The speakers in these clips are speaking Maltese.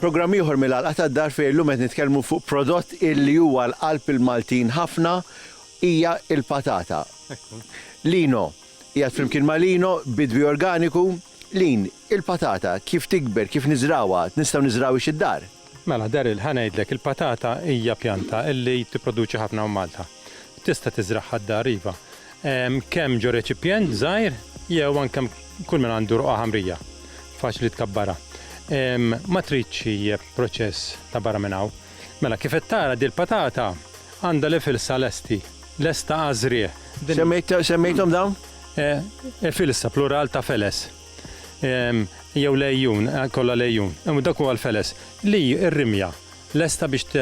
Programm ieħor mill-Għalqa tad-Dar fejn illum qed nitkellmu fuq prodott illi huwa l-qalb il-Maltin ħafna hija l-patata. Lino, qiegħed flimkien ma' Lino, bidwi organiku, Lyn, Il-patata kif tikber, kif niżrgħuha, nistgħu niżrgħuhiex id-dar? Mela, Daryl, ħa ngħidlek, il-patata hija pjanta li tipproduċi ħafna hawn Malta. Tista' tiżragħha d-dar, iva. Kemm ġo reċipjent żgħir jew anke kull min għandu ruqgħa ħamrija, faċli tkabbarha. Ma tridx proċess ta' barra minn hawn. Mela kif qed tara din il-patata għandha l-efilsa lesti, lesta għaż-żrigħ. Semmejthom dawn? Efilsa, plural ta' feles. Jew lejjun, kollha lejjun. Imma dak huwa l-feles. Li r-rimja lesta biex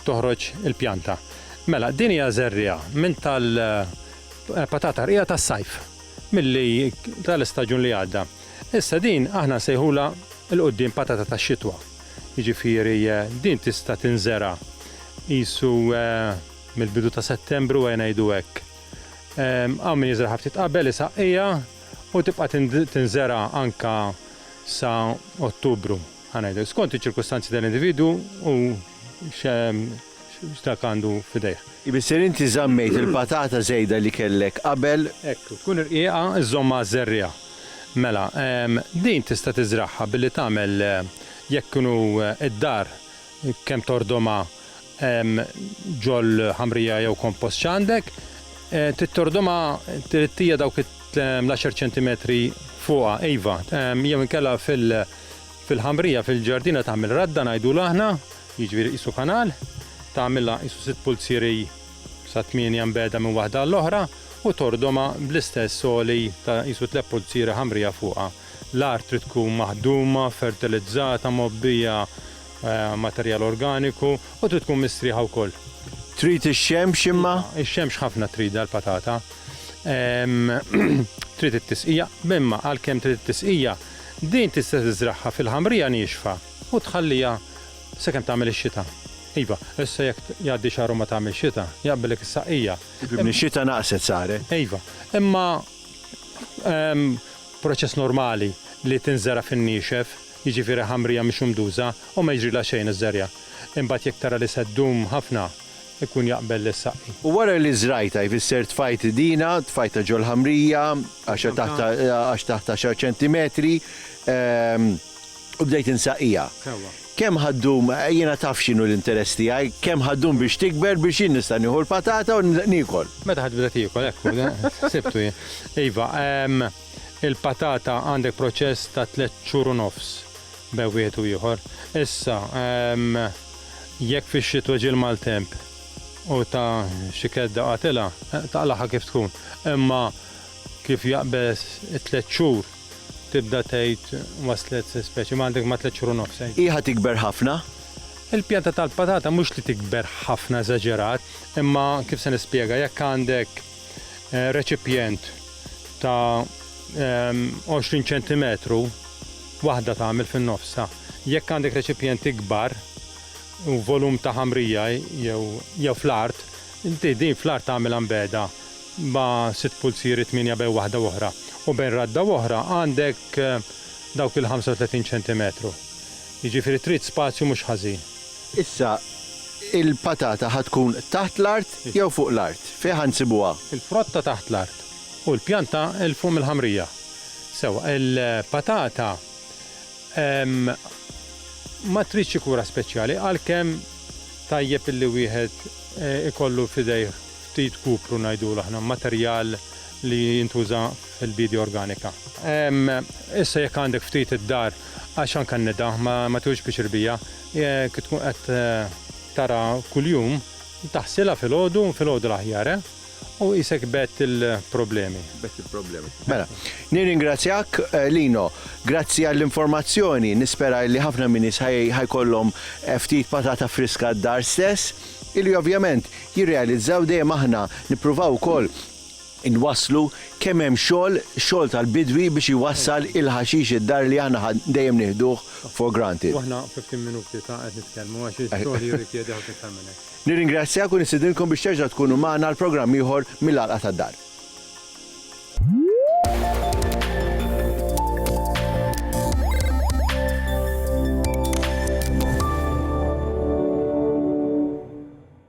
toħroġ il-pjanta. Mela, din hija żerriegħa minn tal-patata rqiqa tas-sajf milli tal-istaġun li għadda. Issa din aħna nsejħulha 'l quddiem patata tax-xitwa. jiġifieri din tista' tinżera' qisu mill-bidu ta' Settembru ejja ngħidu hekk. Hawn min jiżraha ftit qabel, isaqqiha u tibqa' tinżera' anke sa Ottubru, ħa ngħidu hekk. Skont iċ-ċirkustanzi tal-individwu u Dak għandu f'idejh. Ibisser inti żammejt il-patata żejda li kellek qabel. Hekk, tkun rqiqa żżommha għaż-żerriegħa. Mela, din tista' tiżragħha billi tagħmel jekk inhu d-dar kemm tordhomha ġol-ħamrija jew kompost x'għandek. Trid tordhomha, trid hija dawk l-għaxar ċentimetri fuqha, iva, jew inkella fil-, Fil-ħamrija fil-ġardina tagħmel radda ngħidulu aħna, jiġifieri qisu kanal, tagħmilha qisu sitt pulzieri sa tmienja mbegħda minn waħda għall-oħra u tordhomha bl-istess għoli ta' qisu tliet pulzieri ħamrija fuqha. L-art trid tkun maħduma, fertilizzata, mgħobbija materjal organiku u trid tkun mistrieħa wkoll. Trid ix-xemx imma? Iva, ix-xemx ħafna tridha l-patata. Trid it-tisqija, imma għalkemm trid it-tisqija, Din tista' tiżragħha fil-ħamrija niexfa u tħalliha sakemm tagħmel ix-xita. Iva, issa jekk jgħaddi xahar u ma tagħmilx xita, jaqbillek is-saqqija. Fimni, x-xita naqset saret. Iva, imma proċess normali li tinżera' fin-niexef, jiġifieri ħamrija mhix umduża u ma jiġrilha xejn iż-żerja. Imbagħad jekk tara li se ddum ħafna, ikun jaqbel li ssaqqi. U wara li żrajtha, jfisser tfajt idina, tfajtha ġol-ħamrija, għax taħt għaxar ċentimetri, u bdejt insaqqiha. Sewwa. Kemm ħa ddum, jiena taf x'inhu l-interess tiegħi, kemm ħa ddum biex tikber biex jien nista' nieħu l-patata u niekol? Meta ħa tibda tiekol, hekk hu, ħsibtu jien. Iva, il-patata għandek proċess ta' tliet xhur u nofs. bejn wieħed u ieħor. Issa, jekk fix-xitwa ġie l-maltemp u ta xi kedda qatilha, taqlagħha kif tkun. Imma kif jaqbeż it-tliet xhur tibda tgħid waslet se speċi, ma għandek ma tliet xhur u nofs tgħid. Hi ħa tikber ħafna? Il-pjanta tal-patata mhux li tikber ħafna eżaġerat, imma kif se nispjega, jekk għandek reċipjent ta' 20 ċentimetru, Waħda tagħmel fin-nofsha. Jekk għandek reċipjent ikbar u volum ta' ħamrija jew jew fl-art, inti din fl-art tagħmilha mbegħda ma' sitt pulzieri tmienja bejn waħda u oħra u bejn radda u oħra għandek dawk il-ħamsa u tletin ċentimetru. Jiġifieri trid spazju mhux ħażin. Issa, il-patata ħa tkun taħt l-art jew fuq l-art? Fejn ħa nsibuha? Il-frotta taħt l-art u l-pjanta 'l fuq mill-ħamrija. Sewwa, il-patata ma tridx xi kura speċjali għalkemm tajjeb illi wieħed ikollu f'idejh ftit kupru ngħidulu aħna, materjal li jintuża fil-biedja organika. Issa jekk għandek ftit id-dar għax anke n-nida ma tieħux piċir biha, jekk tkun qed tara kuljum, taħsilha filgħodu, filgħodu l-aħjar eh! U isek bett il-problemi. Bett il-problemi. Mela, nirringrazzjak eh, Lino, grazzi għall-informazzjoni, nispera li ħafna minnis ħajkollhom eh, ftit patata friska d-dar stess, illi ovvjament jirrealizzaw dejjem aħna nippruvaw ukoll inwaslu kemm hemm xogħol, xogħol tal-bidwi biex iwassal il-ħaxix id-dar li aħna dejjem nieħduh for granted. Aħna 15 minuti ta' qed nitkellmu għax ix-xogħol jirrikjedi ħafna iktar minn hekk. Nirringrazzjak u nistidinkom biex terġa' tkunu magħna għal programm ieħor mill-Għalqa tad-Dar.